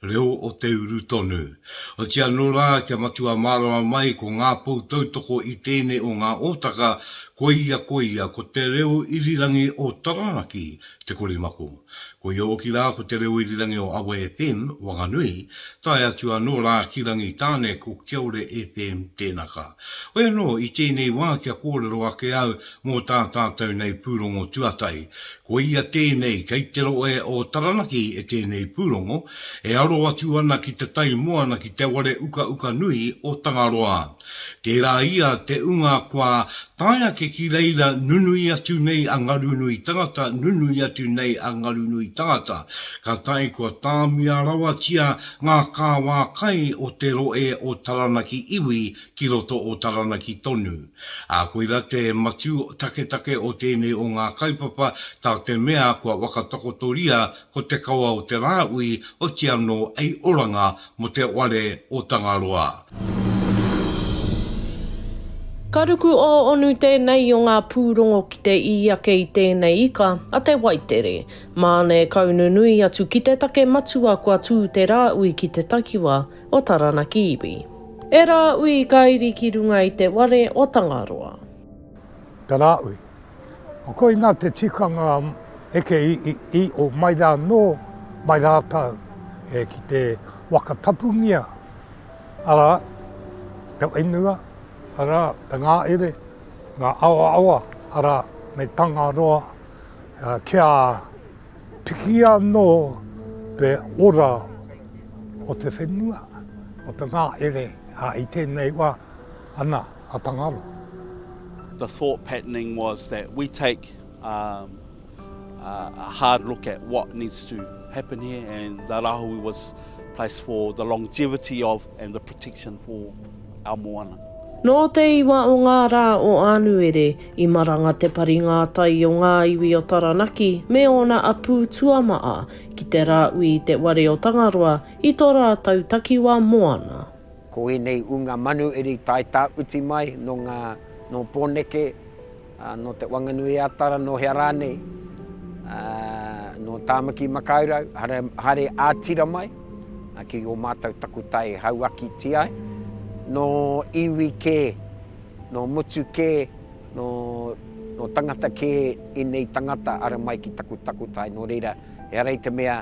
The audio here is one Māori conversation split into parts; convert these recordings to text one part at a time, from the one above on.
Reo o te uru tonu. Otirā anō rā kia matua mārama mai ko ngā pou tautoko i tēnei o ngā ōtaka, koia koia ko te reo irirangi o Taranaki te korimako. Koia hoki rā ko te reo irirangi o Awa FM, Wanganui, tae atu anō rā ki Rangitāne ko Kiaore FM tēnaka. Hoi anō i tēnei wā kia kōrero ake au Mō tā tātou nei pūrongo tuatahi, ko ia tēnei, kei te rohe o Taranaki e tēnei pūrongo, e aro atu ana ki te tai moana ki te ware ukauka nui o Tangaroa. Tērā ia te ūnga kua tae ake ki reira nunui atu nei a Ngarunui Tangata, nunui atu nei a Ngarunui Tangata, ka tae kua tāmia rawatia ngā kāwā kai o te rohe o Taranaki iwi ki roto o Taranaki tonu. Ā, koirā te matū taketake o tēnei o ngā kaupapa, tā te mea kua whakatakotoria ko te kawa o te Rāui oti anō ei oranga mō te whare o Tangaroa. Ka ruku ō-onu tēnei o ngā pūrongo ki te ī ake i tēnei ika a Te Waitere. Māna e kaununui atu ki te take matua kua tū te Rāui ki te takiwā, o Taranaki iwi. E Rāui ka iri ki runga i te ware o Tangaroa. Te Rāui. Koina te tikanga eke i o mai rā nō mai rātau e ki te waka tapungia arā te whenua arā te ngāere ngā awaawa arā me Tangaroa kia Piki anō te ora o te whenua, o te ngahere, ā, i tēnei wā, ana, a Tangaroa. The thought patterning was that we take um, uh, a hard look at what needs to happen here, and the Rahui was placed for the longevity of and the protection for a Moana. Nō te iwa o ngā rā o Ānuere, i maranga te pari ngātai o ngā iwi o Taranaki me ōna apū tuamaʻa ki te rāui i te ware o Tangaroa i tō rātou takiwā moana. Ko ēnei ūnga manu eri tae tākuti mai nō ngā, nō Pōneke. Nō Te Wanganui-a-Tara, nō hea rānei, nō Tāmaki-makau-rau, haere ā-tira mai ki ō mātou takutai hauakiti ai, nō iwi kē, nō motu kē, nō tangata kē ēnei tangata ara mai ki taku takutai, nō reira, ehara i te mea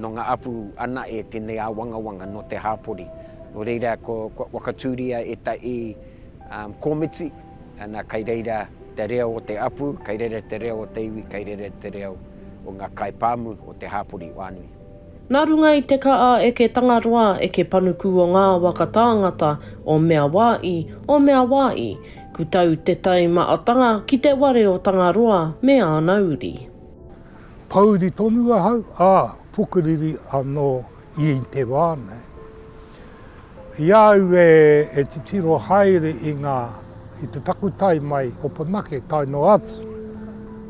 nō ngā apu anaʻe tēnei āwangawanga nō te hāpori. Nō reira, kua whakatūria ētahi komiti. Ana, kai reira te reo o te apu, kai reira te reo o te iwi, kai reira te reo o nga kai pamu o te hapori wanui. Na runga i te ka a eke Tangaroa, eke Panuku o nga waka tāngata, o mea wa i, o mea wa i, ku tau te tai ma atanga ki te ware o Tangaroa me ana uri. Pouri tonu ahau, a, pukuriri ano i te wa nei. I a au e titiro haere i ngā, i te takutai mai o Pōnake tae noa atu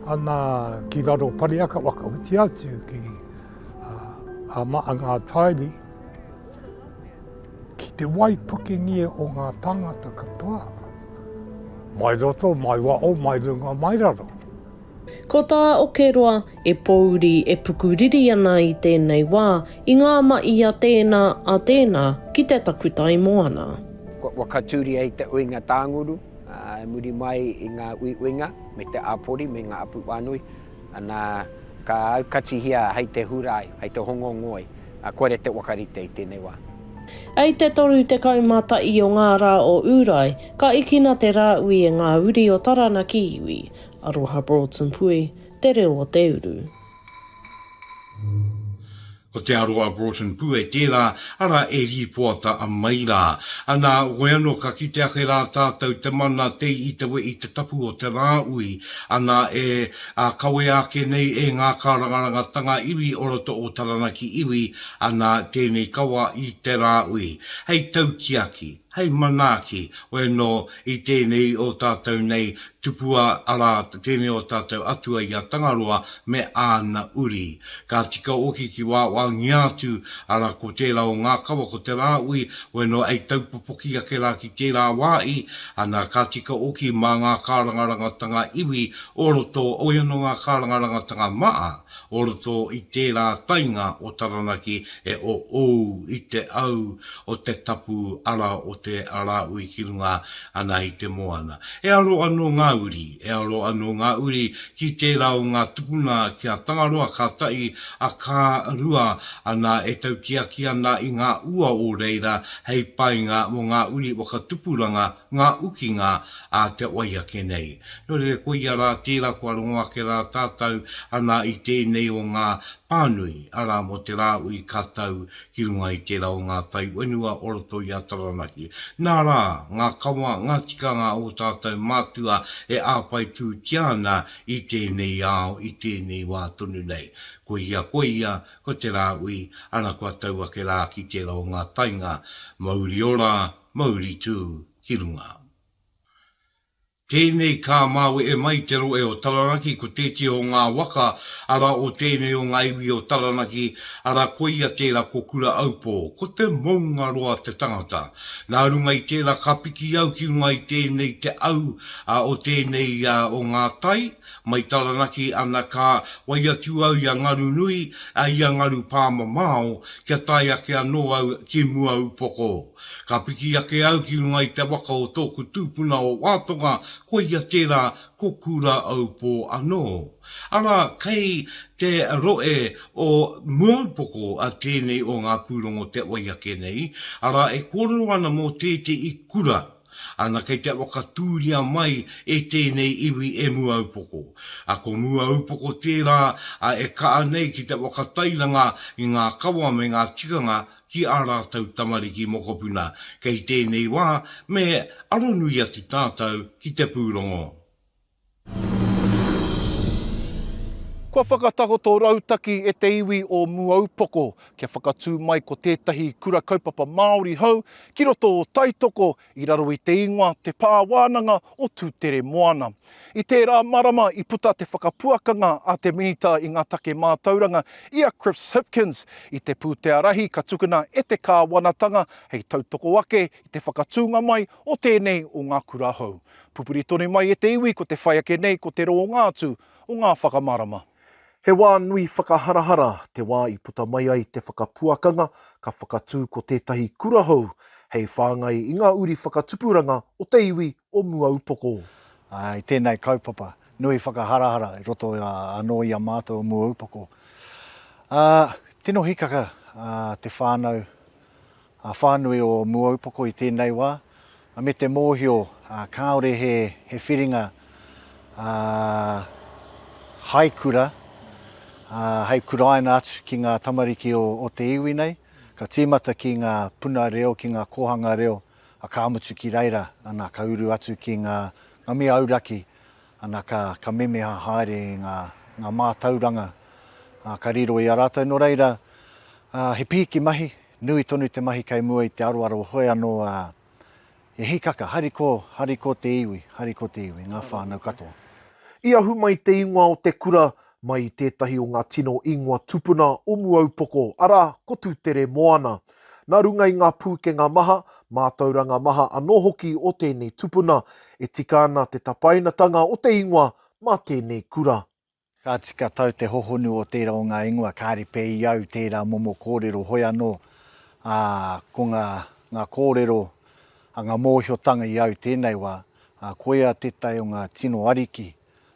ana ki raro Pariaka whakaoti atu ki a Maa Ngātairi, ki te waipukengia o ngā tāngata katoa, mai roto, mai wao, mai runga, mai raro. Ko tā Okeroa, e pōuri, e pukuriri ana i tēnei wā, i ngā maʻi a tēnā, a tēnā, ki te takutai moana. Kua whakatūria e te uinga tānguru, i muri mai i ngā uiuinga me te āpori me ngā apu whānui, ana, ka aukatihia hei te Hūrae, hei te Hongo Ngoi, ā, kua rere te whakarite i tēnei wā. I te 31 o ngā rā o Ūrae, ka ikina te Rāui e ngā uri o Taranaki iwi, Aroha Broughton Pui, te reo o te uru. Ko te aro a Broughton Pue tērā, arā e rīpoata mai rā. Anā, koe anō ka kite ake rā tātou te mana te itawe i te tapu o te rāui, anā e kawea ake nei e ngā kārangarangatanga iwi o roto o Taranaki iwi, anā tēnei kawa i te rāui. Hei tautiaki, hei manaaki, koe anō I tēnei o tātou nei tupua, arā, tēnei o tātou atua i a Tangaroa me āna uri. Ka tika hoki ki wāwaangia atu, arā, ko tērā o ngā kawa, ko Te Rāui, wai noa ei taupopoki ake rā ki tērā wāhi, ana, ka tika hoki mā ngā kārangarangatanga iwi o roto, oi anō ngā kārangarangatanga maha o roto i tērā tainga o Taranaki e oou i te au o te tapu ara o Te Arāui ki runga ana i te moana. E aro anō ngā uri, e aro anō ngā uri ki tērā o ngā tupuna ki a Tangaroa kātahi a Ka rua ana e tautiaki ana i ngā ua o reira hei painga mō ngā uri whakatupuranga ngā ukinga a te wai ake nei. Nō reira, ko ia rā tērā kua rongo ake rā tātou anā i tēnei o ngā pānui, arā, mō te rāui ka tau ki runga i tērā o ngā tai whenua o roto i a Taranaki. Nā rā, ngā kawa, ngā tikanga o ō tātou mātua e āpaitūtia ana i tēnei ao, i tēnei wā tonu nei. Ko ia, ko ia, ko te rāui, ana kua tau ake rā ki tērā o ngā tainga mauri ora, Mauri tū ki runga. Tēnei ka māwehe mai te rohe o Taranaki ko tētehi o ngā waka ara o tēnei o ngā iwi o Taranaki ara koia tērā ko Kura-aupō, ko te Moungaroa te tangata. Nā runga i tērā ka piki au ki runga i tēnei te au a o tēnei a o ngā tai mai Taranaki ana ka wai atu au i a Ngarunui a i a Ngarupāmamao kia tae ake anō au ki Muaūpoko. Ka piki ake au ki runga i te waka o tōku tūpuna o Wātonga, koia tērā ko Kūrāaupō anō. Arā, kei te rohe o Muaupoko tēnei o ngā pūrongo te oi ake nei, arā e kōrero ana mō tētehi kura, ana kei te whakatūria mai e tēnei iwi e Muaupoko. Ko Muaupoko tērā e kaha nei ki te whakatairanga i ngā kawa me ngā tikanga ki ā rātou tamariki mokopuna, kei tēnei wā me aronui atu tātou ki te pūrongo. Kua whakatakoto rautaki e te iwi o Muaūpoko kia whakatū mai ko tētahi Kura Kaupapa Māori hou ki roto o Taitoko I raro i te ingoa Te Pā Wānanga o Tūtere Moana. I tērā marama i puta te whakapuakanga a te Minita i ngā Take Mātauranga, i a Chris Hipkins, i te pūtea rahi ka tukuna e te kāwanatanga hei tautoko ake i te whakatūnga mai o tēnei o ngā kura hou. Pupuri tonu mai e te iwi ko te whai ake nei ko te rōnga atu o ngā whakamarama. He wā nui whakaharahara te wā i puta mai ai te whakapuakanga ka whakatū ko tētahi kura hou hei whāngai i ngā uri whakatupuranga o te iwi o Muaūpoko. I tēnei kaupapa, nui whakaharahara i roto anō i a mātou o Muaūpoko. Tino hikaka te whānau a whānui o Muaūpoko i tēnei wā, me te mōhio kāore he whiringa hai kura, hai kuraina atu ki ngā tamariki o te iwi nei, ka tīmata ki ngā puna reo, ki ngā kōhanga reo, ka mutu ki reira, ana, ka uru atu ki ngā mea auraki, ana, ka memeha haere i ngā mātauranga ka riro i a rātou. Nō reira, he pīki mahi, Nui tonu te mahi kei mua i te aroaro hoe anō a He hikaka, hari ko, hari ko te iwi, hari ko te iwi, ngā whānau katoa. I ahu mai te ingoa o te kura mai i tētahi o ngā tino ingoa tupuna o Muaūpoko, arā, ko Tūtere Moana. Nā runga i ngā pūkenga maha, mātauranga maha anō hoki o tēnei tupuna, e tika ana te tapainatanga o te ingoa mā tēnei kura. Ka tika tau te hohonu o tērā o ngā ingoa, kāre pea i au tērā momo kōrero, hoi anō, ā, ko ngā, ngā kōrero, ā, ngā mōhiotanga i au tēnei wā, ā, koia tētahi o ngā tino ariki,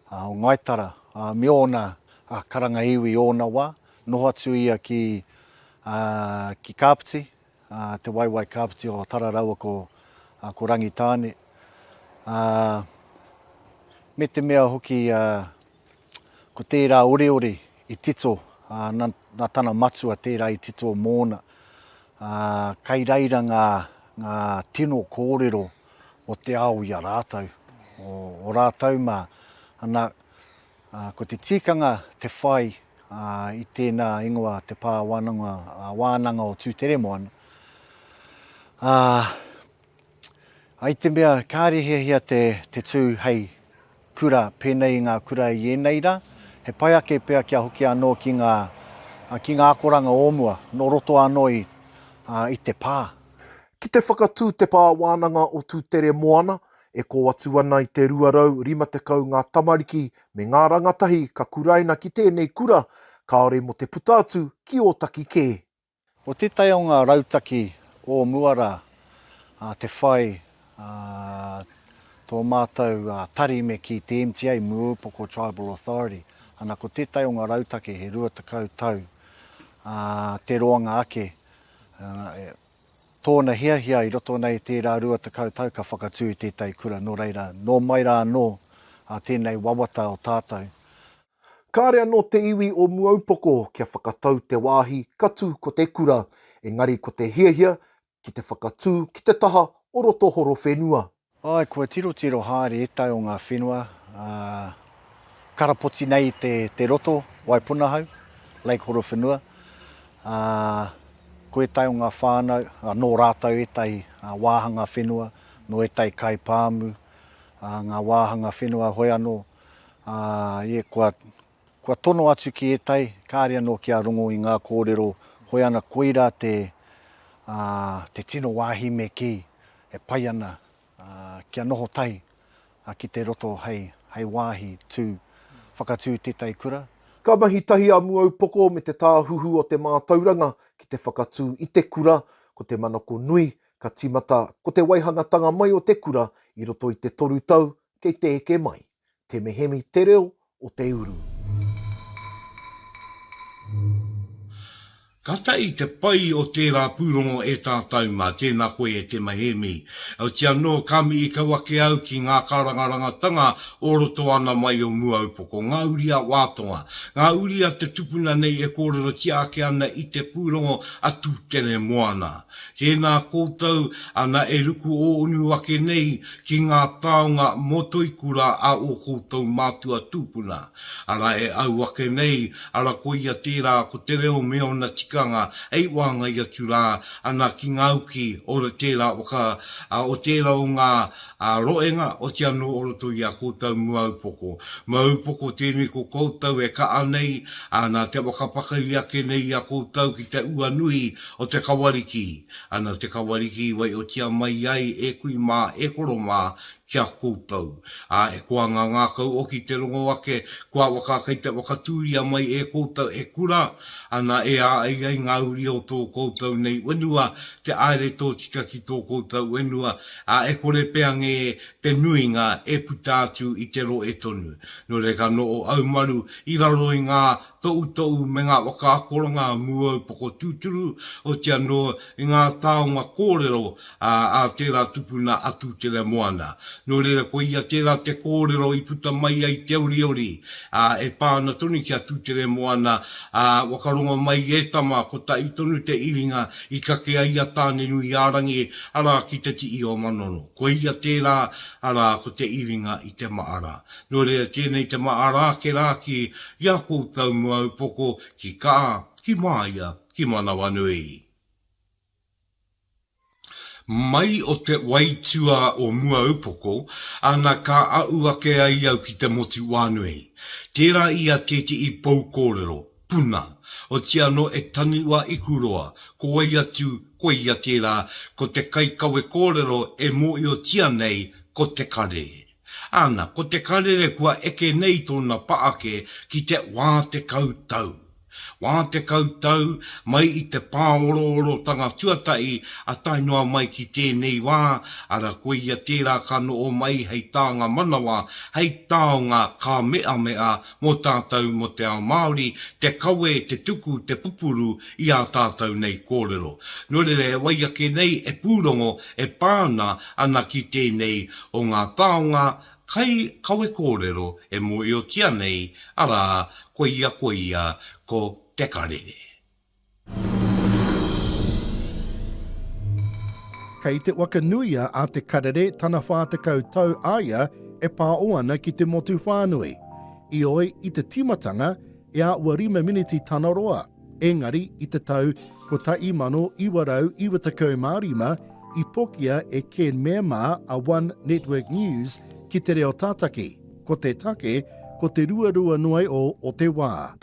ā, o Ngāi Tara, ā, me ōna, ā, karanga iwi i ōna wā, noho atu ia ki, ā, ki Kāpiti, te waewae kāpiti o Tara raua ko ko Rangitāne, a me te mea hoki ko tērā oreore i tito na tana matua tērā i tito mōna. Kai reira ngā ngā tino kōrero o te ao i a rātou, o rātou ma, ana Ā, ko te tikanga te whai i tēnā ingoa te Pā Wānanga, Wānanga o Tūteremoana. Ā, ai te mea kāre hiahia te, te tū hei kura pēnei i ngā kura i ēnei rā, he pai ake pea kia hoki anō ki ngā, ki ngā akoranga o mua, nō roto anō i, i te pā. Ki te whakatū te Pā Wānanga o Tūteremoana, E kō atu ana i te 250 ngā tamariki me ngā rangatahi ka kuraina ki tēnei kura, kāore mō te puta atu ki Ōtaki kē. Ko tētahi o ngā rautaki o mua rā te whai tō mātou tari me kī te MTA, Mua Upoko Tribal Authority, ana ko tētahi o ngā rautaki he 20 tau te roanga ake. Tōna hiahia i roto nei tērā rua tekau tau ka whakatū i tētahi kura nō reira, nō mai rā anō a tēnei wawata o tātou. Kāre anō te iwi o Muaūpoko kia whakatau te wāhi ka tū ko te kura, engari ko te hiahia ki te whakatū ki te taha o roto horowhenua. Āe, kua tirotiro haere ētahi o ngā whenua, ā, karapoti nei i te, te roto, Waipunahau, Lake Horowhenua, ā, ko ētahi o ngā whānau, ā, nō rātou ētahi wāhanga whenua, nō ētahi kai pāmu, ā, ngā wāhanga whenua hoi anō, ā, ie, kua. Kua tono atu ki ētahi, kāre anō kia rongo i ngā kōrero, hoi ana koirā te, ā, te tino wāhi me kī, e pai ana, ā, kia noho tahi, ā, ki te roto hei, hei wāhi tū, whakatū i tētahi kura. Ka mahi tahi a Muaupoko me Te Tāhuhu o te Mātauranga ki te whakatū i te kura, ko te manako nui, ka tīmata ko te waihangatanga mai o te kura i roto i te toru tau kei te eke mai. Te mehemi te reo o te uru. Katai te pai o tērā pūrongo e tātou mā tēnā koe e te mehemi. Heoti anō, ka mihi kau ake au ki ngā karangarangatanga o roto ana mai o Muaūpoko, ngā uri a Wātonga, ngā uri a te tupuna nei e kōrerotia ake ana i te pūrongo a Tūteremoana. Tēnā koutou ana e ruku ōunu ake nei ki ngā taonga mō Toikura a ō koutou mātua tūpuna, arā e au ake nei, arā koia tērā ko te reo me ōna tikanga hei wāngai atu rā ana ki ngā uki o tērā waka, o tērā o ngā roenga oti anō o roto i a koutou mua upoko. Mua upoko tēnei ko koutou e kaʻa nei, nā te waka pakari ake nei i a koutou ki te ua nui O te Kawariki, ana te Kawariki i waiotia mai ai e kui mā, e horo mā ki a koutou. Ā, e koa ngā ngākau oki te rongo ake, kua waka kei te whakatūria mai e koutou he kura, ana e ā ai ai ngā uri o tō koutou nei wenua te aere tōtika ki tō koutou wenua, ā, e kore pea ngē te nuinga e puta atu i te roe tonu. Nō reira ka noho aumaru i raro i ngā. Toutou me ngā whakaakoranga mūaupoko tūturu, oti anō i ngā taonga kōrero a tērā tupuna a Tūtere Moana. Nō reira ko ia tērā te kōrero i puta mai ai te oriori e pā ana tonu ki a Tūtere Moana, Waka rongo mai e tama, kotahi tonu te iringa i kake ai a Tānenuiārangi, arā, ki te tihi o Manono. Ko ia tērā, arā, ko te iringa i te maara. Nō reira tēnei te mahara ake rā ki i a koutou mua upoko, ki Kaa, ki Māia, ki Manawanui. Mai o te waituā o mua upoko, ana ka aʻu ake ai au ki te motu wānui. Tērā i a tēteʻi pou kōrero, puna, oti anō e tanu a Ikuroa, ko wai atu, ko ia tērā, ko te kaikawe kōrero e mōhiotia nei ko Te Kare. Ana, ko te karere kua eke nei tōna paake ki te wā tekau tau. Wā tekau tau, mai i te pāoroorotanga tuatahi a tae noa mai ki tēnei wā, ara koia tērā ka noho mai hei tānga manawa, hei taonga ka meamea mō tātou mō te ao Māori, te kawe, te tuku, te pupuru i ā tātou nei kōrero. Nō reira, e wai ake nei, e pūrongo, e pā ana, ana ki tēnei o ngā taonga kai kawe kōrero e mōhiotia nei, arā, koia koia ko Te Karere. Kei te whakanuia a Te Karere tana 40 tau a ia e pāo ana ki te motu whānui. Ioi, i te tīmatanga, e āhua rima miniti tana roa, engari i te tau 1995 i pokia e Ken Mema a One Network News ki te reo tātaki, ko te take ko te ruarua noa iho o te wā.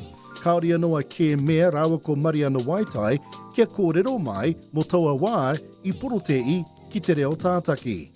Kāore anō a Ken Mea rāua ko Mariana Waitai kia kōrero mai mō taua wā i porotēhi ki te reo tātaki.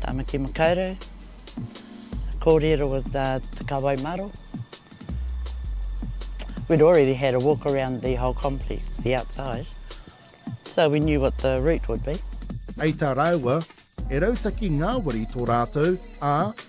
Tamaki Makaurau, kōrero with the Te Kawai Maro. We'd already had a walk around the whole complex, the outside, so we knew what the route would be. Hei tā rāua, he rautaki ngāwari tō rātou, ā,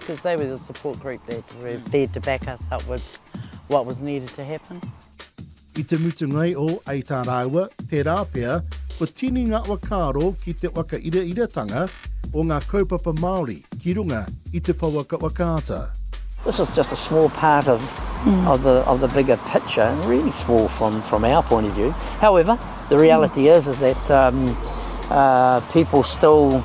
Because they were the support group that were there to back us up with what was needed to happen. I te mutunga o Ei tā rāua, tērā pea, ko Tini ngā whakaaro ki te whakairairatanga o ngā kaupapa Māori ki runga i te pouaka whakaata. This is just a small part of, mm. of, the, of the bigger picture, really small from, from our point of view. However, the reality mm. is, is that um, uh, people still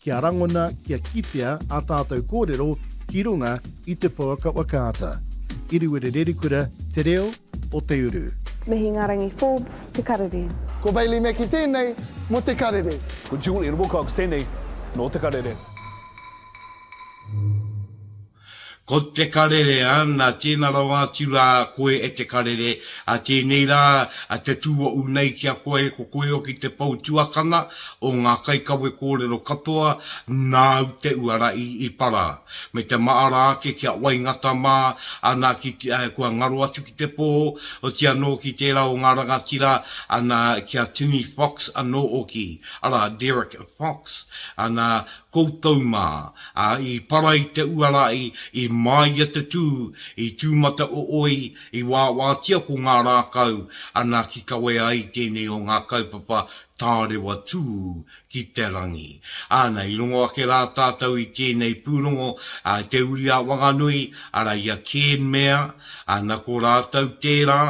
kia rangona, kia kitea ā tātou kōrero ki runga i te pouaka wakaata. Iriwiri Rerikura, Te Reo o Te Uru. Me Hingarangi Forbes te karere. Ko Bailey Mackie tēnei mō te karere. Ko Julie Wilcox tēnei nō te karere. Ko te karere, ana, tēnā rawa atu rā koe e te karere, a tēnei rā, a te tūoʻu nei ki a koe, ko koe hoki te pou tuakana o ngā kaikawe kōrero katoa, nāu te uara i Ipara, me te maara ake ki a Waingata mā, ana, ki, kua ngaro atu ki te pō, oti anō ki tērā o ngā rangatira, ana, ki a Tini Fox anō oki, arā, Derek Fox, ana, Koutou mā, ā, i para i te uara i, i māia te tū, i tūmata ooi, i wāwātia ko ngā rākau, ana ki kawea ai tēnei o ngā kaupapa tārewa tū ki te rangi. Ana, i rongo ake rā tātou i tēnei pūrongo, ā, te uri a Wanganui, ara i a Cairn Mair, ana, ko rātou tērā,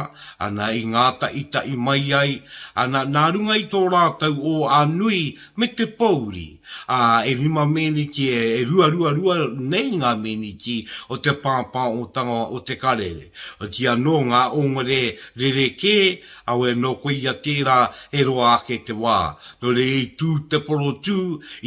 ana, i ngātaʻitaʻi mai ai, ana, nā runga i tō rātou ō a nui me te pōuri, ā, e rima meneti, e ruaruarua nei ngā meneti o te pāpāotanga o te Karere. Otirā anō ngā ōngare rerekē, aue nō koia tērā e roa ake te wā. Nō reira i tū te porotū,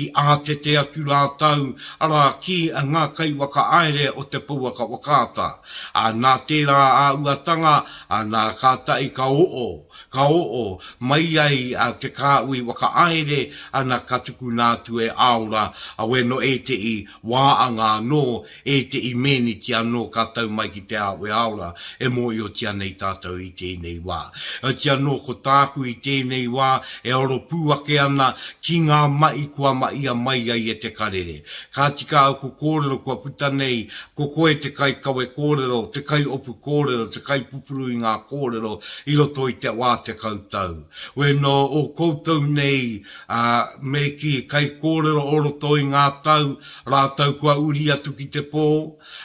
i ātete atu rātou, arā, ki ngā kaiwhakaāere o te pouaka whakaata. Ā, nā tērā āuatanga, ā, nā, kātahi ka oo. Ka oo mai ai a Te Kaaui whakaaere ana ka tukuna atu e Aora a we no ete'i wa anga no ete'i meniti ano ka tau mai ki te ao e Aora e moiotia nei tatou i tenei wa. Otia no ko taaku i tenei wa e oro pu ake ana ki nga ma'i kua ma'ia mai ai e Te Karere. Ka tika oku korero kua puta nei Ko koe te kaikawe kōrero, te kaiopu kōrero, te kaipupuru i ngā kōrero i roto i te wā tekau tau. We nō ō koutou nei, ā, me kī, kaikōrero o roto i ngā tau, rātou kua uri atu ki te pō,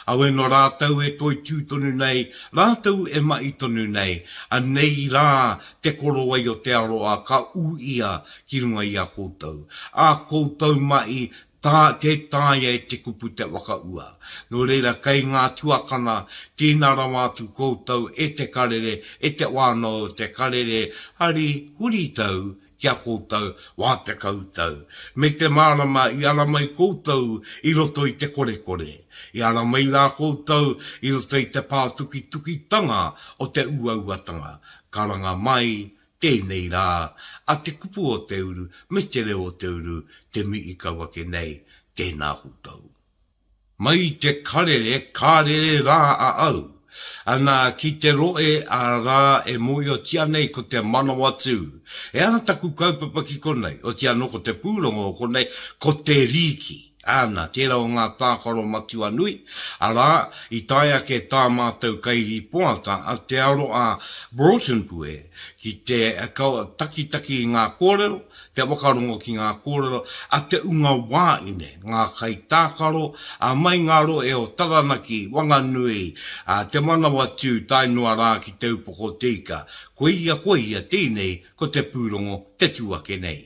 a we nō rātou e toitū tonu nei, rātou e mahi tonu nei, anei rā te korowai o te aroa ka ū ia ki runga i a koutou. Ā koutou mahi Tā, Tē taea e te kupu te whakaua. Nō reira, kei ngā tuakana, tīna rawa atu koutou e te Karere, e te wānau o te Karere, hari huritau ki a koutou wā tekau tau. Me te mārama i ara mai koutou i roto i te korekore, i ara mai rā koutou i roto i te pātukitukitanga o te uauatanga. Karanga mai Tēnei rā, a te kupu o te uru me te reo o te uru te mi i kau ake nei, tēnā koutou. Mai i te karere, ka rere rā a au. Ana, ki te roe, a rā, e mōiotia nei ko te Manawatū. He aha taku kaupapa ki konei, oti anō ko te pūrongo o konei, ko te rīki. Āna, tērā o ngā tākaro matua nui, arā, i tae ake tā mātou kairīpoata a Te Aroa Broughton Pue ki te takitaki i ngā kōrero, te whakarongo ki ngā kōrero a te unga wāine, ngā kaitākaro, ā, mai ngā rohe o Taranaki, Wanganui, ā, Te Manawatū tae noa rā ki Te Upoko Te Ika, koia, koia tēnei ko te pūrongo te tū ake nei.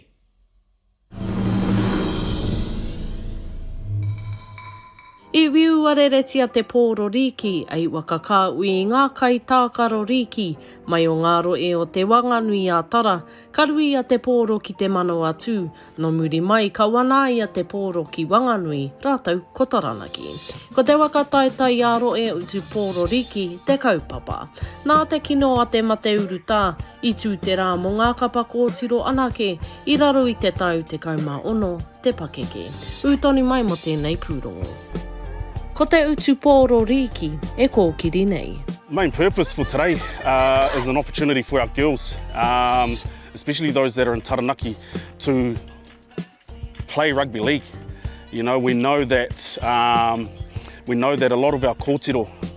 I wiuareretia te pōro rīki, i wakakāui i ngā kai tākaro rīki, mai o ngā roe o Te Wanganui-ā-Tara, ka ruia te pōro ki Te Manawatū, nō muri mai ka wanaia te pōro ki Wanganui rātou ko Taranaki. Ko te waka taitaiāroe utu pōro rīki te kaupapa. Nā te kino a te mate urutā, i tū te rā mō ngā kapa kōtiro anake, I raro i te tau 16 te pakeke. Ū tonu mai mō tēnei pūrongo. Ko te utu pōro rīki e kōkiri nei. Main purpose for today is an opportunity for our girls, especially those that are in Taranaki, to play rugby league. You know, we know that a lot of our kōtiro,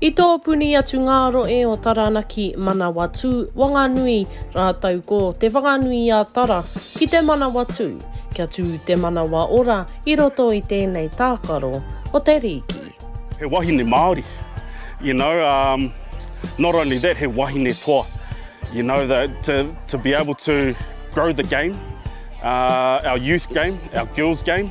I tō puni atu ngā roe o Taranaki, Manawatū, Wanganui, rātou ko Te Whanganui-a-Tara ki te Manawatū, kia tū te manawa ora i roto i tēnei tākaro o te rīki. He wahine Māori, you know, um, not only that, he wahine toa, you know, the, to, to be able to grow the game, uh, our youth game, our girls game,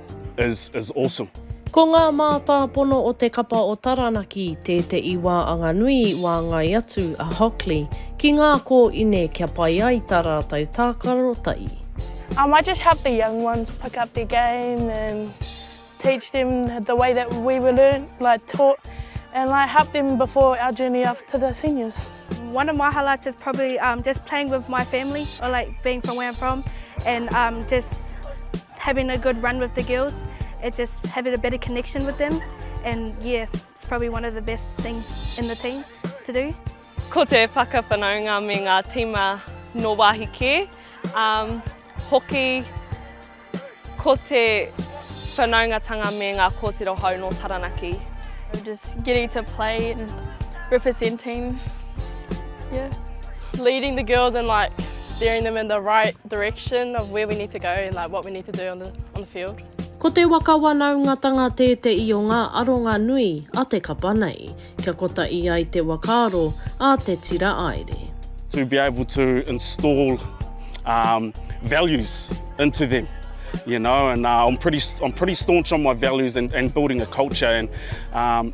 is is awesome. Ko ngā mātāpono o te kapa o Taranaki tēteʻi wā anganui i wāngai atu a Hockley ki ngā kōine kia pai ai tā rātou tākarotai. I might just help the young ones pick up their game and teach them the way that we were learned, like taught, and like help them before our journey off to the seniors. One of my highlights is probably um, just playing with my family or like being from where I'm from and um, just Having a good run with the girls, it just having a better connection with them and yeah, it's probably one of the best things in the team to do. Ko te whakawhanaunga me ngā tīma no wāhi kē, um, hoki ko te whanaungatanga me ngā kōtiro hou no Taranaki. Just getting to play and representing, yeah. Leading the girls and like steering them in the right direction of where we need to go and like what we need to do on the, on the field. Ko te waka wanaungatanga tēteʻi o ngā aronga nui a te kapa nei, kia kotaʻi ai te wakaaro a te tira aere. to be able to install um, values into them. You know, and uh, I'm pretty I'm pretty staunch on my values and, and building a culture and um,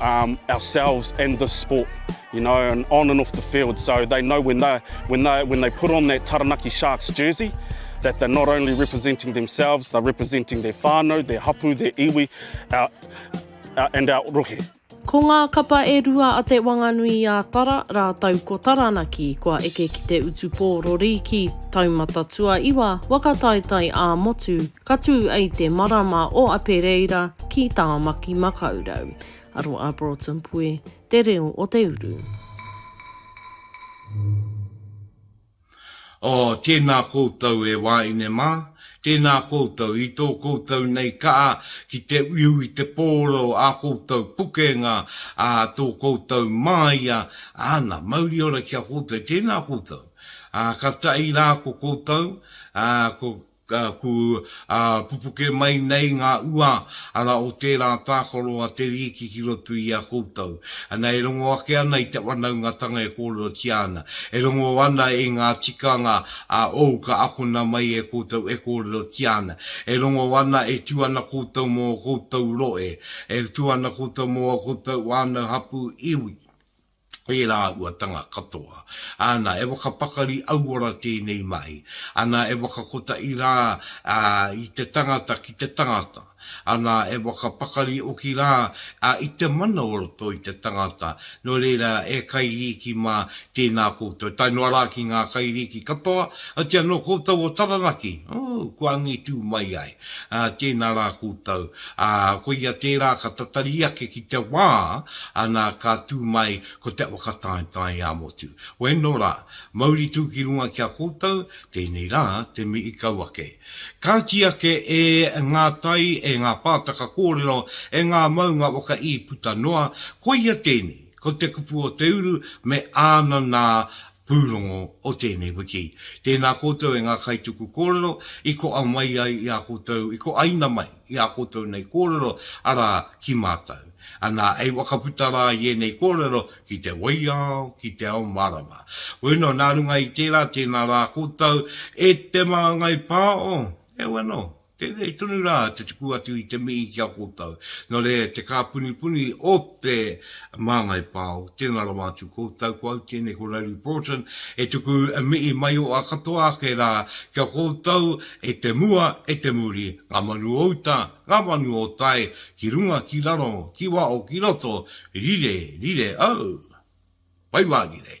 ourselves and this sport you know and on and off the field so they know when they when they when they put on that Taranaki Sharks jersey that they're not only representing themselves they're representing their whānau, their hapu, their iwi our and our rohe. Ko ngā kapa e rua a Te Wanganui a Tara rātou ko Taranaki kua eke ki te utu pō rori ki Taumata Tuaiwa, Wakataetae ā-Motu, Ka tū i te marama o Apereira ki Tāmaki Makaurau. Aro a Broughton Pue, Te Reo o te Uru. Oh, tēnā koutou e wāine mā, tēnā koutou i tō koutou nei kaha ki te uiu i te pōro ā koutou pukenga, ā tō koutou māia, āna, mauri ora ki a koutou, tēnā koutou, ā, ka tahi rā ko koutou, ā, ko Taku pupu kē mai nei ngā ua ara o tērā tākaro a Te Riiki ki roto i a koutou. Ana e rongo ake ana i te whanaungatanga e kōrerotia ana. E rongo ana i ngā tikanga a ou ka akona mai e koutou e kōrerotia ana. E rongo ana e tū ana koutou mō koutou rohe, e tū ana koutou mō koutou whānau hapū iwi. ērā āhuatanga katoa. Āna, e whakapakari auora tēnei mahi. Ana, e whakakotaʻi rā i te tangata ki te tangata. Ana, e whakapakari hoki rā i te mana o roto i te tangata. Nō reira, e kairīki mā, tēnā koutou. Tae noa rā ki ngā kairīki katoa, oti anō koutou o Taranaki, ū, kua ngitū mai ai. ā, tēnā rā koutou, ā, koia tērā ka tatari ake ki te wā, ana, ka tū mai ko te whakataetae ā-motu. Wēno rā, mauri tū ki runga ki a koutou, tēnei rā te mihi kau ake. Kāti ake e ngā tai, e ngā pātaka kōrero, e ngā maunga waka-ī puta noa, koia tēnei, ko te kupu o te uru me āna nā, pūrongo o tēnei wiki. Tēnā koutou e ngā kaituku kōrero i koa mai ai i a koutou, i koaina mai i a koutou nei kōrero, arā, ki mātou. Anā, e whakaputa rā i ēnei kōrero ki te waiao, ki te ao mārama. Bueno, nā runga i tērā, tēnā rā koutou e te māngai pāo. Heoi anō. Tēnei tonu rā te tuku atu i te mihi ki a koutou. Nō reira, te kāpunipuni o te Māngai Pao, tēnā rawa atu koutou, ko au tēnei, ko Rowley Broughton, e tuku mihi mai o a katoa ake rā ki a koutou e te mua, e te muri, ngā manu o uta, ngā manu o tai, ki runga, ki raro, ki waho, ki roto, rire, rire au! Pai mārire!